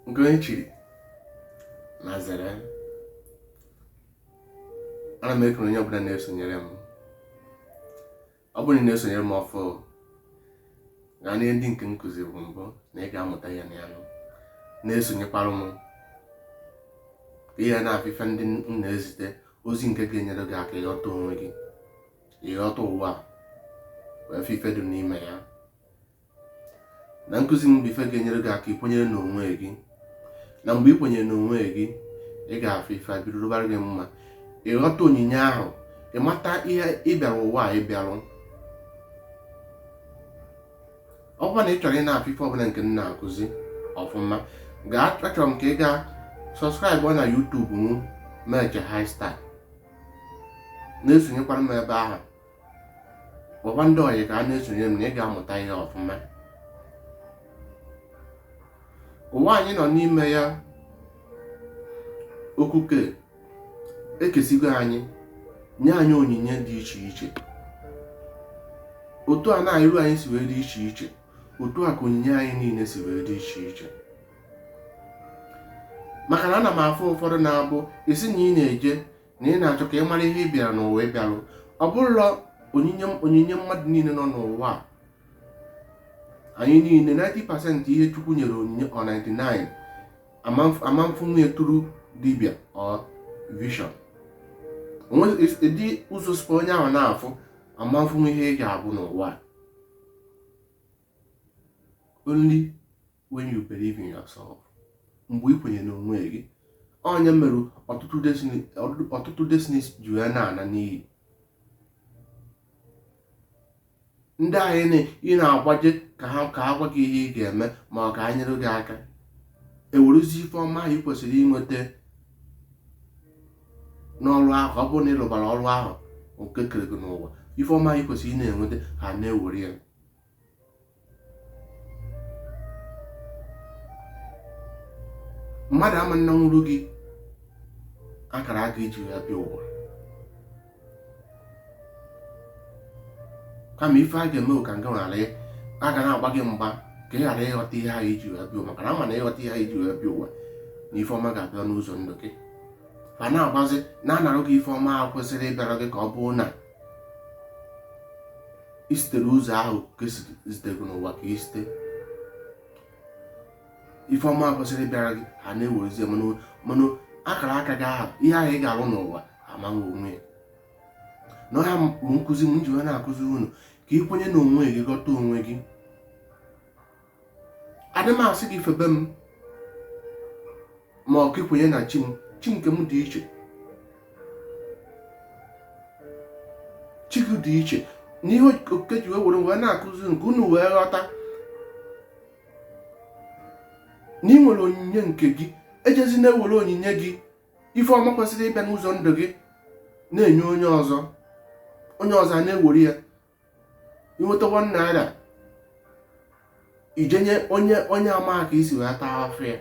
nke onye chiri nya zere ana m ekele onye ọbụla na-esonyere m ọ bụrụ na ị na-esonyere m ọfụụ gaa nee ihe ndị nke m kụzibu mbụ na ị ga-amụta ihe na ya na-esonyekwara m ka ị na-afụ ife ndị m na-ezite ozi nke ga-enyere gị aka ịghọta onwe gị ịghọta ụwa wee fụ ife dị n'ime ya na nkụzi m bụ ife ga-enyere gị aka ikwenyere n'onwe gị na mgbe ị kwenyere n'onwe gị ị ga-afụ ife bido rụbara gị mma ịghọta onyinye ahụ ịmata ihe ị bịara ụwa a ịbịarụ ọ bụrụ na ị chọrọ ị na-afụ ife ọbụla nke m na-akụzi ọfụma gaa achọrọ m ka ị gaa subscribe na YouTube m meche high star na-esonyekwara m ebe ahụ gwakwa ndị ọyị ka ha na-esonye m na ị ga-amụta ihe ọfụma ụwa anyị nọ n'ime ya okuke ekesigo anyị nye anyị onyinye dị iche iche otu a na iru anyị si wee dị iche iche otu a ka onyinye anyị niile si wee dị iche iche maka na ana m afụ ụfọdụ na-abụ isi na ị na-eje na ị na-achọ ka ị mara ihe ị bịara n'ụwa ịbịarụ ọ bụrụla onyinye mmadụ niile nọ n'ụwa a anyị niile 90 percent ihe chukwu nyere onyinye ọ 99 amamfu nwunye tụrụ dibia ọ vision dị ụzọ sịkwa onye ahụ na-afụ amamfu ihe ị ga-abụ n'ụwa only when you believe in yourself mgbe ị kwenyere n'onwe gị ọ nya mere ọtụtụ destinies ji wee na-ana n'iyi ndị ahụ ị na-agbaje ka ha gwa gị ihe ị ga-eme ma ọ ka ha nyere gị aka ewerezi ife ọma ahụ ị kwesịrị inweta n'ọrụ ahụ ọ bụrụ na ị rụbara ọrụ ahụ nke e kere gị n'ụwa ife ọma ahụ ị kwesịrị ị na-enweta ha na-ewere ya mmadụ ama nanwuru gị akara aka i ji wee bịa ụwa kama ife ha ga-eme ka nke ghara ha ga na-agba gị mgba ka ị ghara ịghọta ihe ahụ i ji wee bịa ụwa maka na ha ma na ị ghọta ihe ahụ i ji wee bịa ụwa na ife ọma ga-abịa n'ụzọ ndụ gị fa na-agbazi na-anarụ gị ife ọma ahụ kwesịrị ịbịara gị ka ọ bụrụ na i sitere ụzọ ahụ ka e zitere gị n'ụwa ka i site ife ọma kwesịrị ịbịara gị ha na-ewerezie mana akara aka gị ahụ ihe ahụ ị ga-arụ n'ụwa ama nwo onwe ya na ọ ha bụ nkụzi m ji wee na-akụzi unu ka ị kwenye n'onwe gị ghọta onwe gị adị m asị gị febe m ma ọ ka ị kwenye na chi m chi nke m dị iche chi gị dị iche n'ihe okike ji were wee na-akụzi nke unu wee ghọta na ị nwere onyinye nke gị ejezina ewere onyinye gị ife ọma kwesịrị ịbịa n'ụzọ ndụ gị na-enye onye ọzọ onye ọzọ na-ewere ya inweta one naira ijenye onye ama ka isi wee taa afụfụ ya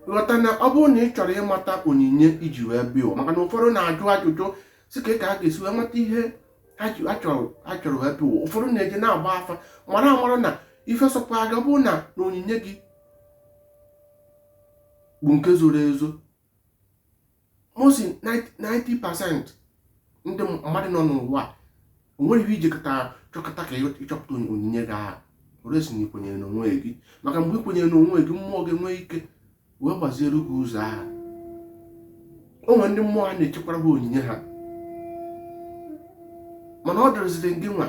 ghọta na ọ bụrụ na ị chọrọ ịmata onyinye iji wee bịa maka na ụfọdụ na-ajụ ajụjụ sị ka ka a ga-esi wee mata ihe ha chọrọ wee bịa ụfọdụ na-eje na-agba afa mara amara na ife sọkwa aga bụrụ na na onyinye gị bụ nke zoro ezo most 90 percent ndị mmadụ nọ n'ụwa onwere ihe iji chọkata ka ịchọpụta onyinye gị ahụ unless na ikwenyere n'onwe gị maka mgbe ikwenyere n'onwe gị mmụọ gị nwee ike wee gbaziere gị ụzọ ahụ o nwere ndị mmụọ ha na-echekwara ha onyinye ha mana ọ dịrịziri gị nwa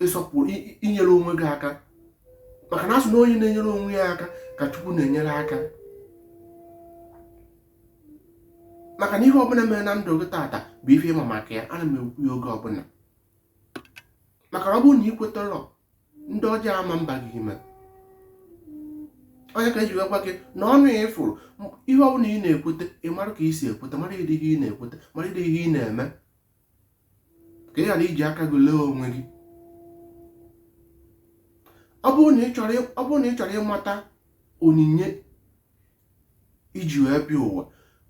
ịsọpụrụ inyere onwe gị aka maka na asị na onye na-enyere onwe ya aka ka Chukwu na-enyere aka maka na ihe ọbụla mere na ndụ gị tata bụ ife ịma maka ya ana m ekwu ya oge ọbụla maka na ọ bụrụ na ị kwetarọ ndị ọjọọ ama mba gị ime ọ ya ka eji gwa gị na ọnụ ya ịfụrụ ihe ọbụla ị na-ekweta ị mara ka ị si ekweta mara ụdị ihe ị na-ekweta mara ụdị ihe ị na-eme ka ị ghara iji aka gị lee onwe gị ọ bụrụ na ị chọrọ ịmata onyinye iji wee bịa ụwa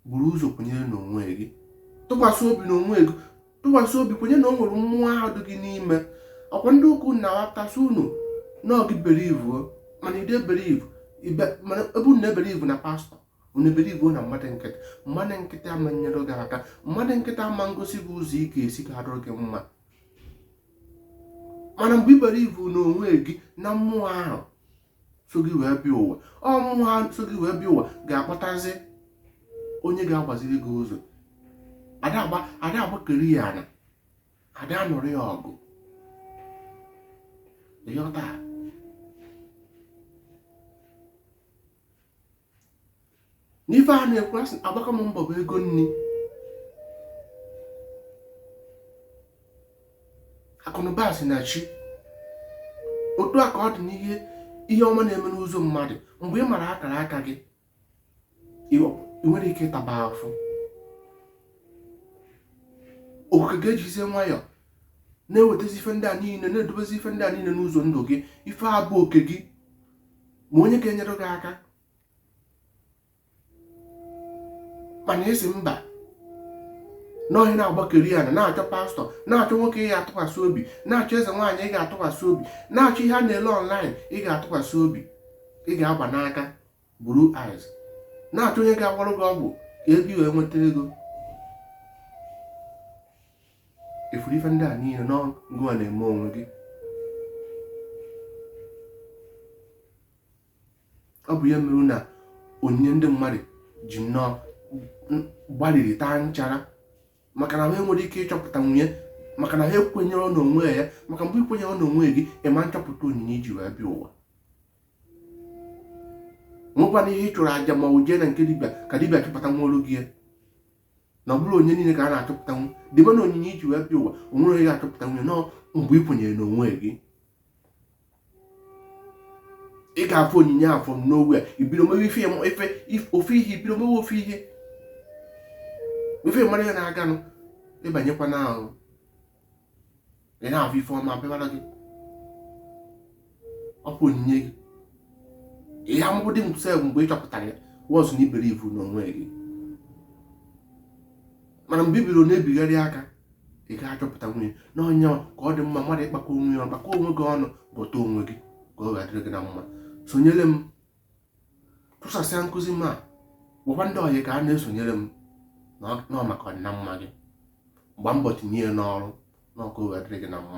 buru ụzọ kwenyere n'onwe gị tụkwasị obi n'onwe gị tụkwasị obi kwenye na o nwere mmụọ ahụ dị gị n'ime ọkwa ndị ukwu na-aghọtasị unu na ọ gị believe mana ide believe mana ebe unu na-ebelieve na pastor unu believe na mmadụ nkịtị mmadụ nkịtị ama nyere gị aka mmadụ nkịtị ama ngosi gị ụzọ ị ga-esi ka ọ dịrị gị mma mana mgbe ị believe na onwe gị na mmụọ ahụ so gị wee bịa ụwa ọ mmụọ ahụ so gị wee bịa ụwa ga-akpọtazi onye ga-agbaziri gị ụzọ ada agbakeri ya ana ada anụrụ ya ọgụ ịghọta n'ife a na-ekwu a sị agbaka m mbọ bụ ego nni akụnụba si na chi otu a ka ọ dị n'ihe ihe ọma na-eme n'ụzọ mmadụ mgbe ị mara akara aka gị ị nwere ike ịtaba afụ okike ga-ejizie nwayọọ na-ewetazi ife ndị a niile na-edobezi ife ndị a niile n'ụzọ ndụ gị ife a bụ oke gị ma onye ga-enyere gị aka mana ị sị mba n'ohi na-agbakeri ya na na-achọ pastor na-achọ nwoke ị ga-atụkwasị obi na-achọ eze nwaanyị ị ga-atụkwasị obi na-achọ ihe a na-ele online ị ga-atụkwasị obi ị ga-agba n'aka buru eyes na-achọ onye ga-agwọrọ gị ọgwụ ị ga-eji wee nweta ego ị fụrụ ife ndị a niile na ọ gịwa na-eme onwe gị ọ bụ ya mere na onyinye ndị mmadụ ji nnọọ gbaliri taa nchara maka na ha enwerọ ike ịchọpụtanwu ya maka na ha ekwenyerọ n'onwe ya maka mgbe i kwenyere n'onwe gị ịma nchọpụta onyinye i ji wee bịa ụwa nwekwana ike ịchụrụ aja ma ọ jee na nke dibịa ka dibịa chọpụtanwuoro gị ya na ọ bụrọ onye niile ka a na-achọpụtanwu dibịa na onyinye i ji wee bịa ụwa o nwerọ onye ga-achọpụtanwu ya na ọ mgbe ị kwenyere na onwe gị ị ga-afụ onyinye afụ n'onwe ya i bido mewe ife ife ofu ihe i bido mewe ofu ihe ị fụ ma ọ ya na-aganụ ị banyekwa n'ahụ ị na-afụ ife ọma bịara gị ọ bụ onyinye gị ihe amụbụ dị mfe mgbe ị chọpụtara ya once na i believe n'onwe gị mana mgbe i bido na-ebigharị aka ị ga-achọpụtanwu ya na ọ ya ka ọ dị mma mmadụ ịkpakọ onwe ya kpakọ onwe gị ọnụ ghọta onwe gị ka ọ ga-adịrị gị na mma sonyere m tụsasịa nkụzi m a gwakwa ndị ọyị ka ha na-esonyere m na ọ maka ọdịna mma gị gba mbọ tinye ya n'ọrụ na ka o wee dịrị gị na mma